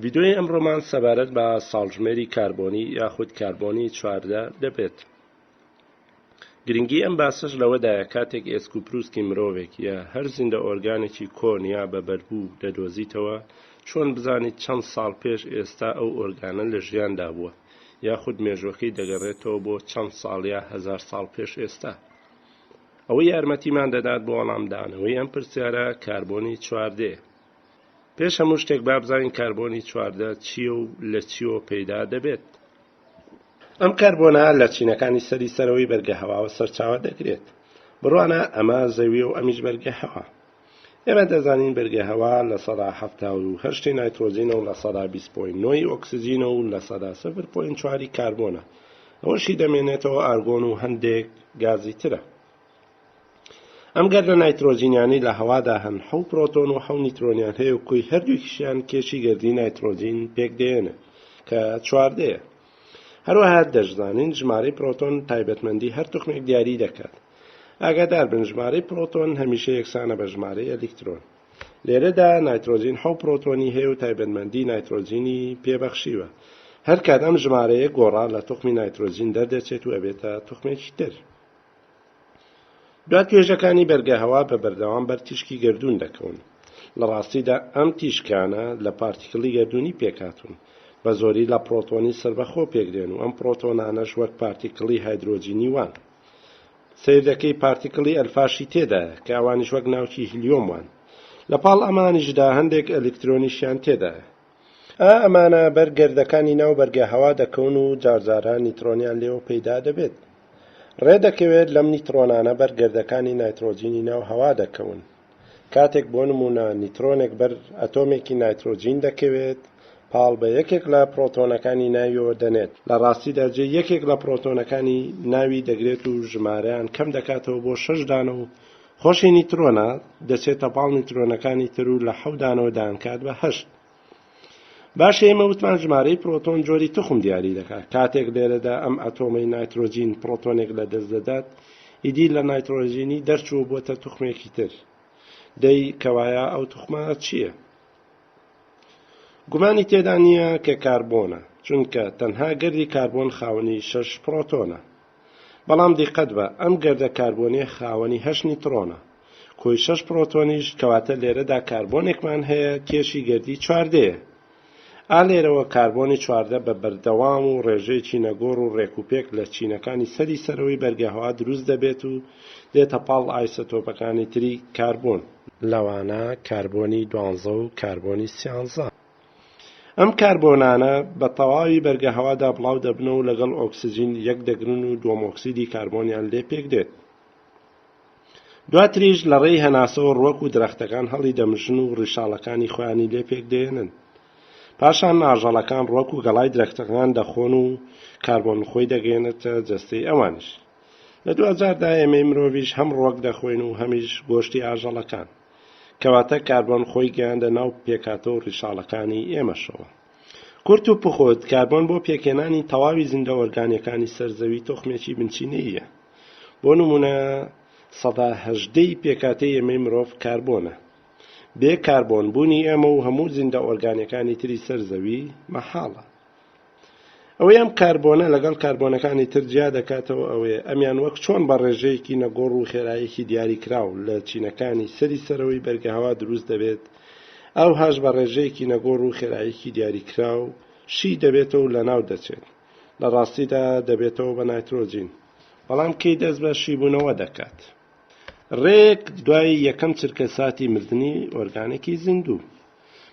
ڤیدۆیی ئەمڕۆمان سەبارەت بە ساڵژمێری کاربۆنی یاخود کاربۆنی چواردە دەبێت. گرنگی ئەم باسەش لەوەدایە کاتێک ئێسک و پروسکی مرۆڤێک یا هەر زیندە ئۆرگانێکی کۆن یا بە بەربوو دەدۆزیتەوە چۆن بزانیت چەند ساڵ پێش ئێستا ئەو ئۆرگانە لە ژیاندا بووە یاخود مێژووەکەی دەگەڕێتەوە بۆ چەند ساڵ یا هەزار ساڵ پێش ئێستا؟ ئەوە یارمەتیمان دەدات بۆ وەڵامدانەوەی ئەم پرسیارە کاربۆنی چواردەیە پێش هەموو شتێک با بزانین کاربۆنی چواردە چییە و لە چیوە پەیدا دەبێت؟ ئەم کەربۆنە لە چینەکانی سەری سەرەوەی بەرگە هەواوە سەرچاوە دەگرێت بڕوانە ئەمە زەویە و ئەمیش بەرگە هەوا ئێمە دەزانین بەرگە هەوا لە سەدا هەفتا و هەشتی نایترۆزینە و لە سەدا بیست پۆین نۆی ئۆکسجینە و لە سەدا سفر پۆین چواری کاربۆنە ئەوەشی دەمێنێتەوە ئارگۆن و هەندێک گازی ترە ئەم گەردە نایترۆجینیانەی لە هەوادا هەن حەو پرۆتۆن و حەو نیترۆنیان هەیە و کۆی هەردووکیشیان کێشی گەردی نایترۆجین پێکدێنن کە چواردەیە هەروەها دەشزانین ژمارەی پرۆتۆن تایبەتمەندی هەر توخمێک دیاری دەکات ئاگادار بن ژمارەی پرۆتۆن هەمیشە یەکسانە بە ژمارەی ئەلیکترۆن لێرەدا نایترۆجین حەو پرۆتۆنی هەیە و تایبەتمەندی نایترۆجینی پێبەخشیوە هەر کات ئەم ژمارەیە گۆڕا لە توخمی نایترۆجین دەردەچێت و ئەبێتە توخمێکی تر دوای توێژەکانی بەرگەهەوا بە بەردەوام بەر تیشکی گەردوون دەکەون لە ڕاستیدا ئەم تیشکانە لە پارتیکلی گەردوونی پێکاتون بە زۆری لە پرۆتۆنی سربەخۆ پێکدێن و ئەم پرۆتۆنانەش وەک پارتیکلی هایدرۆجینی وان سیر دەکەی پارتیکلی ئەلفاشی تێدایە کە ئەوانیش وەک ناوکی هلیۆم وان لە پاڵ ئەمانیشدا هەندێک ئەلکترۆنیشیان تێدایە ئا ئەمانە بەر گەردەکانی ناو بەرگە هەوا دەکەون و جارجارە نیترۆنیان لێوە پەیدا دەبێت. ڕێ دەکەوێت لەم نیترۆنانە بەر گەردەکانی نایترۆجینی ناو هەوا دەکەون. کاتێک بۆ نموونە نیترۆنێک بەر ئەتۆمێکی نایترۆجین دەکەوێت، پاڵ بە یەکێک لە پرۆتۆنەکانی ناویەوە دەنێت، لە ڕاستیدا جێی یەکێک لە پرۆتۆنەکانی ناوی دەگرێت و ژمارەیان کەم دەکاتەوە بۆ شەش دانە و خۆشی نیترۆنە دەچێتە پاڵ نیترۆنەکانی تر و لە حەو دانەوە دایانکات بە هەشت باشە ئێمە وتمان ژمارەی پرۆتۆن جۆری تخم دیاری دەکات کاتێک لێرەدا ئەم ئەتۆمەی نایترۆجین پرۆتۆنێک لە دەست دەدات ئیدی لە نایترۆژینی دەرچوو بۆتە تخمێکی تر دەی کەوایە ئەو تخمە چییە؟ گومانی تێدا نییە کە کاربۆنە چونکە تەنها گەردی کاربۆن خاوەنی شەش پرۆتۆنە بەڵام دیقەت بە ئەم گەردە کاربۆنیە خاوەنی هەشت نیتڕۆنە کۆی شەش پڕۆتۆنیش کەواتە لێرەدا کاربۆنێکمان هەیە کێشی گەردی چواردەیە ئا لێرەوە کاربۆنی چواردە بە بەردەوام و ڕێژەیەکی نەگۆڕ و ڕێکوپێک لە چینەکانی سەری سەرەوەی بەرگەهەوا دروست دەبێت و دێتە پاڵ ئایسۆتۆپەکانی تری کاربۆن لەوانە کاربۆنی دوانزە و کاربۆنی سیانزە. ئەم کاربۆنانە بە تەواوی بەرگە هەوادا بڵاو دەبنەوە و لەگەڵ ئۆکسجین یەک دەگرن و دووەم ئۆکسیدی کاربۆنیان لێ پێک دێت دواتریش لە ڕێی هەناسەوە ڕوەک و درەختەکان هەڵی دەمژن و ڕیشاڵەکانی خۆیانی لێ پێک دێنن پاشان ناژەڵەکان ڕۆک و گەڵای درەختەکان دەخۆن و کاربۆن خۆی دەگەێنێتە جەستەی ئەوانش لە دوجاردا ئێمەی مرۆڤش هەم ڕۆک دەخۆین و هەمیش گۆشتی ئاژەڵەکان کەواتە کاربۆن خۆی گەیاندە ناو پێکهاتە و ڕیشاڵەکانی ئێمەشەوە. کورت و پوخت، کاربۆن بۆ پێکهێنانی تەواوی زیندە ئۆرگانیەکانی سەر زەوی تۆخمێکی بنچینەییە. بۆ نموونە سەدا هەژدە ی پێکهاتەی ئێمەی مرۆڤ کاربۆنە. بێ کاربۆن بوونی ئێمە و هەموو زیندە ئۆرگانیەکانی تری سەر زەوی مەحاڵە. ئەوەی ئەم کاربۆنە لەگەڵ کاربۆنەکانی تر جیا دەکاتەوە ئەوەیە ئەمیان وەک چۆن بە ڕێژەیەکی نەگۆڕ و خێرایەکی دیاری کراو لە چینەکانی سەری سەرەوەی بەرگەهەوا دروست دەبێت ئەوهاش بە ڕێژەیەکی نەگۆڕ و خێرایەکی دیاری کراو شی دەبێتەوە و لەناو دەچێت لە ڕاستیدا دەبێتەوە بە نایترۆجین بەڵام کەی دەست بە شیبوونەوە دەکات ڕێک دوای یەکەم چرکە ساتی مردنی ئۆرگانێکی زیندوو.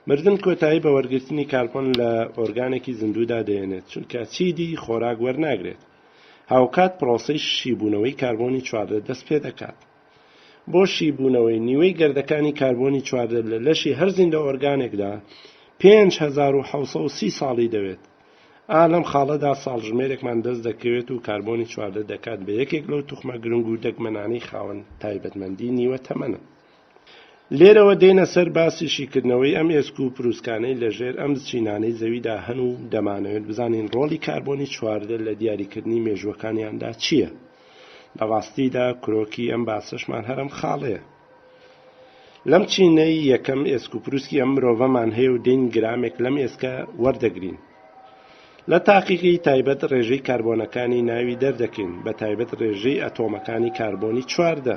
مردن کۆتایی بە وەرگرتنی کاربۆن لە ئۆرگانێکی زیندوودا دەێنێت، چونکە چیدی خۆراک وەرناگرێت. هاوکات پرۆسەی شیبوونەوەی کاربۆنی چواردە دەست پێدەکات. بۆ شیبوونەوەی نیوەی گەردەکانی کاربۆنی چواردە لە لەشی هەر زیندە ئۆرگانێکدا پێنج هەزار و حەوت سەد و سی ساڵی دەوێت. ئا لەم خاڵەدا ساڵژمێرێکمان دەست دەکەوێت و کاربۆنی چواردە دەکات بە یەکێک لەو توخمە گرنگ و دەگمەنانەی خاوەن تایبەتمەندی نیوە تەمەنن. لێرەوە دێینە سەر باسی شیکردنەوەی ئەم ئێسک و پروسکانەی لە ژێر ئەم چینانەی زەویدا هەن و دەمانەوێت بزانین ڕۆڵی کاربۆنی چواردە لە دیاریکردنی مێژووەکانیاندا چییە؟ لە ڕاستیدا کرۆکی ئەم باسەشمان هەر ئەم خاڵەیە. لەم چینەی یەکەم ئێسک و پروسکی ئەم مرۆڤەمان هەیە و دێین گرامێک لەم ئێسکە وەردەگرین. لە تاقیگەی تایبەت ڕێژەی کاربۆنەکانی ناوی دەردەکەین بە تایبەت ڕێژەی ئەتۆمەکانی کاربۆنی چواردە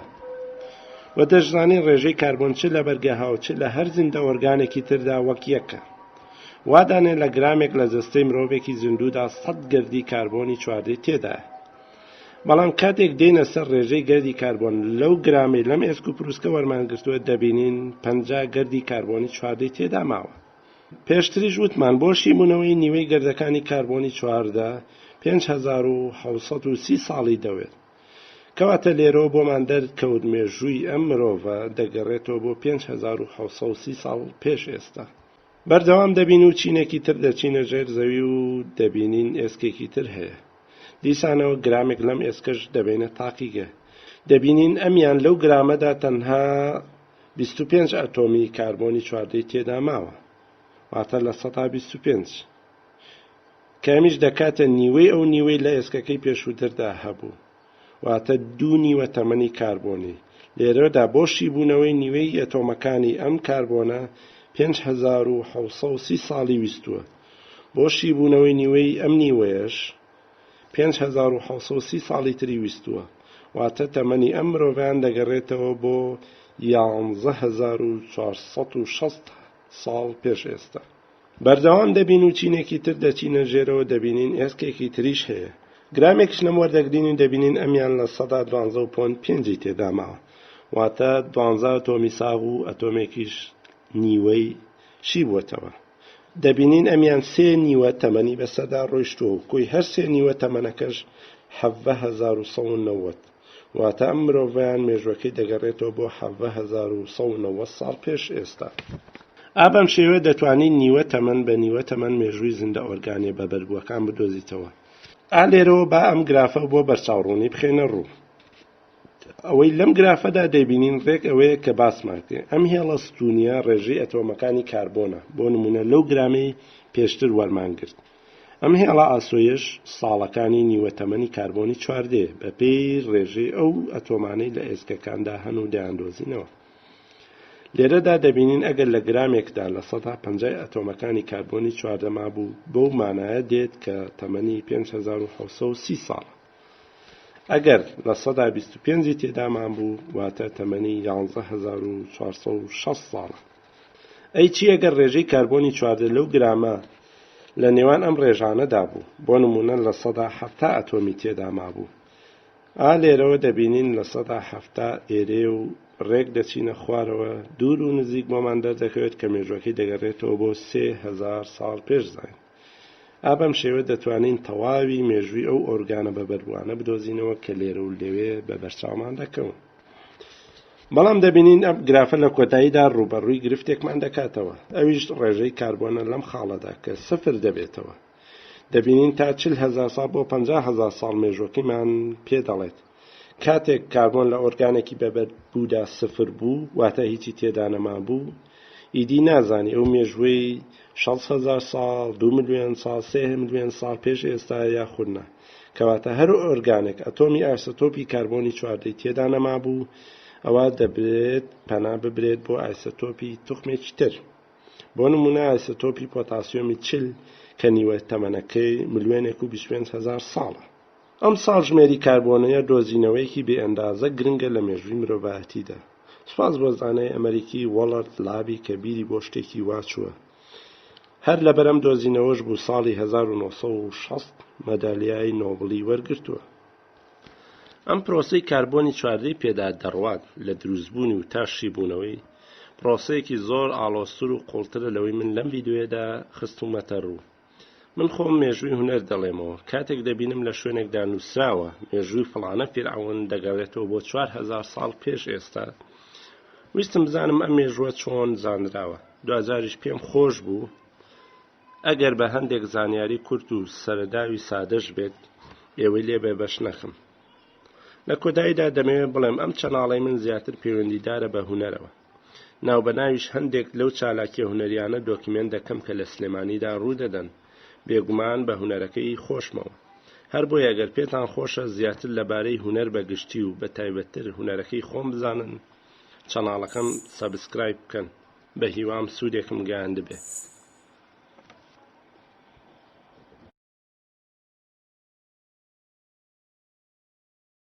و دەشزانین ڕێژەی کاربۆن چ لە بەرگە هاو چ لە هەر زیندە ئۆرگانێکی تردا وەک یەکە وادانێ لە گرامێک لە جەستەی مرۆڤێکی زیندوودا سەد گردی کاربۆنی چواردەی تێدایە بەڵام کاتێک دێنە سەر ڕێژەی گەردی کاربۆن لەو گرامی لەم ئێسک و پرووسکە وەرمانگرتووە دەبینین پ گەردی کاربۆنی چواردەی تێدا ماوە پێشتریش وتمان بۆ شیبوونەوەی نیوەی گردەکانی کاربۆنی چواردە پێنج هەزار و حەوت سەد و سی ساڵی دەوێت. کەواتە لێرەوە بۆمان دەرکەوت مێژووی ئەم مرۆڤە دەگەرێتەوە بۆ پێنج هەزار و حەوت سەد و سی ساڵ پێش ئێستا. بەردەوام دەبین و چینێکی تر دەچینە ژێر زەوی و دەبینین ئێسکێکی تر هەیە. دیسانەوە گرامێک لەم ئێسکەش دەبەینە تاقیگە. دەبینین ئەمیان لەو گرامەدا تەنها. بیست و پێنج ئەتۆمی کاربۆنی چواردەی تێدا ماوە، واتە لە سەدا بیست و پێنج، کە ئەمیش دەکاتە نیوەی ئەو نیوەی لە ئێسکەکەی پێشووتردا هەبوو، واتە دوو نیوە تەمەنی کاربۆنی، لێرەدا بۆ شیبوونەوەی نیوەی ئەتۆمەکانی ئەم کاربۆنە پێنج هەزار و حەوت سەد و سی ساڵی ویستووە، بۆ شیبوونەوەی نیوەی ئەم نیوەیەش پێنج هەزار و حەوت سەد و سی ساڵی تری ویستووە، واتە تەمەنی ئەم مرۆڤەیان دەگەڕێتەوە بۆ یانزە هەزار و چوار سەد و شەست ساڵ پێش ئێستا. بەردەوام دەبین و چینێکی تر دەچینە ژێرەوە دەبینین ئێسکێکی تریش هەیە، گرامێکیش لەم وەردەگرین و دەبینین ئەمیان لە سەدا دوانزە و پۆنت پێنجی تێدا ماوە، واتە دوانزە ئەتۆمی ساغ و ئەتۆمێکیش نیوەی شی بووەتەوە. دەبینین ئەمیان سێ نیوە تەمەنی بە سەدا ڕۆیشتووە و کۆی هەر سێ نیوە تەمەنەکەش حەڤە هەزار و سەد و نەوەد واتە ئەم مرۆڤیان مێژوەکەی دەگەڕێتەوە بۆ حەڤە هەزار و سەد و نەوەد ساڵ پێش ئێستا. ئا بەم شێوەیە دەتوانیت نیوە تەمەن بە نیوە تەمەن مێژووی زیندە ئۆرگانیە بەبەربووەکان بدۆزیتەوە. ئا لێرەوە با ئەم گرافە بۆ بەرچاوڕوونی بخەینە ڕوو. ئەوەی لەم گرافەدا دەیبینین ڕێک ئەوەیە کە باسمان کرد ئەم هێڵە ستونیە ڕێژەی ئەتۆمەکانی کاربۆنە بۆ نمونە لەو گرامەی پێشتر وەرمان گرت ئەم هێڵە ئاسۆیش ساڵەکانی نیوە تەمەنی کاربۆنی چواردێ بەپێی ڕێژەی ئەو ئەتۆمانەی لە ئێسکەکاندا هەن و دەیاندۆزینەوە لێرەدا دەبینین ئەگەر لە گرامێکدا لە سەدا پەنجای ئەتۆمەکانی کاربۆنی چواردەما بوو بەو مانایە دێت کە تەمەنی 5630 ساڵە ئەگەر لە سەدا بیست و پێنجی تێدامان بوو واتە تەمەنی یانزە هەزار و چوارسە و شەست ساڵە ئەی چی ئەگەر ڕێژەی کاربۆنی چواردە لەو گرامە لە نێوان ئەم ڕێژانەدا بوو بۆ نمونە لە سەدا حەفتا ئەتۆمی تێدا مابوو ئا لێرەوە دەبینین لە سەدا حەفتا ئێرێ و ڕێک دەچینە خوارەوە دوور و نزیک بۆمان دەردەکەوێت کە مێژوەکەی دەگەڕێتەوە بۆ سێ هزار ساڵ پێش زین ئا بەم شێوە دەتوانین تەواوی مێژووی ئەو ئۆرگانە بەبەربووانە بدۆزینەوە کە لێرە و لەوێ بە بەرچاومان دەکەون. بەڵام دەبینین ئەم گرافە لە کۆتاییدا ڕوبەڕووی گرفتێکمان دەکاتەوە ئەویش ڕێژەی کاربۆنە لەم خاڵەدا کە سفر دەبێتەوە دەبینین تا چل هزار ساڵ بۆ پ هزار ساڵ مێژوەکەیمان پێ دەڵێت کاتێک کاربۆن لە ئۆرگانێکی بە بەردبوودا سفر بوو واتە هیچی تێدا نەمابوو ئیدی نازانی ئەو مێژووی 600هزار ساڵ دو ملیۆن ساڵ سێ ملیۆن ساڵ پێش ئێستا یاخودنا کەواتە هەر ئۆرگانێک ئەتۆمی ئایسۆتۆپی کاربۆنی چواردەی تێدا نەمابوو ئەوە دەبێت پەنا ببرێت بۆ ئایسۆتۆپی توخمێکی تر بۆ نمونە ئایسۆتۆپی پۆتاسیۆمی چل کە نیوە تەمەنەکەی ملیۆنێک و 25هزار ساڵە ئەمساڵ ژمێری کاربۆنەیە دۆزینەوەیەکی بێ ئەندازە گرنگە لە مێژووی مرۆڤایەتیدا. سوپاس بۆ زانای ئەمەریکی وەڵرد لابی کە بیری بۆ شتێکی وا چووە. هەر لەبەر ئەم دۆزینەوەش بوو ساڵی هەزار و نۆ سەد و شەست مەدالیای نۆبڵی وەرگرتووە. ئەم پرۆسەی کاربۆنی چواردەی پێدا دەڕوات لە دروستبوونی و تا شیبوونەوەی، پرۆسەیەکی زۆر ئاڵۆزتر و قووڵترە لەوەی من لەم ڤیدیۆیەدا خستوومەتە ڕوو. من خۆم مێژووی هونەر دەڵێمەوە کاتێک دەبینم لە شوێنێکدا نووسراوە مێژووی فڵانە فیرعون دەگەڕێتەوە بۆ چوار هزار ساڵ پێش ئێستا ویستم بزانم ئەم مێژووە چۆن زانراوە دوجاریش پێم خۆش بوو ئەگەر بە هەندێک زانیاری کورت و سەرداوی سادەش بێت ئێوەی لێ بێ بەش نەخم لە کۆداییدا دەمەوێت بڵێم ئەم چەناڵی من زیاتر پەیوەندیدارە بە هوەرەوە ناوبەناویش هەندێک لەو چالاکیە هونەریانە دۆکیمێنت دەکەم کە لە سلێمانیدا روو دەدەن، بێگومان بە هونەرەکەی خۆشمەوە. هەر بۆیە گەر پێتان خۆشە زیاتر لەبارەی هونەر بە گشتی و بە تایبەتتر هونەرەکەی خۆم بزانن، چەناڵەکەم سەبسکرایب بکەن، بە هیوام سوودێکم گەیاندبێت.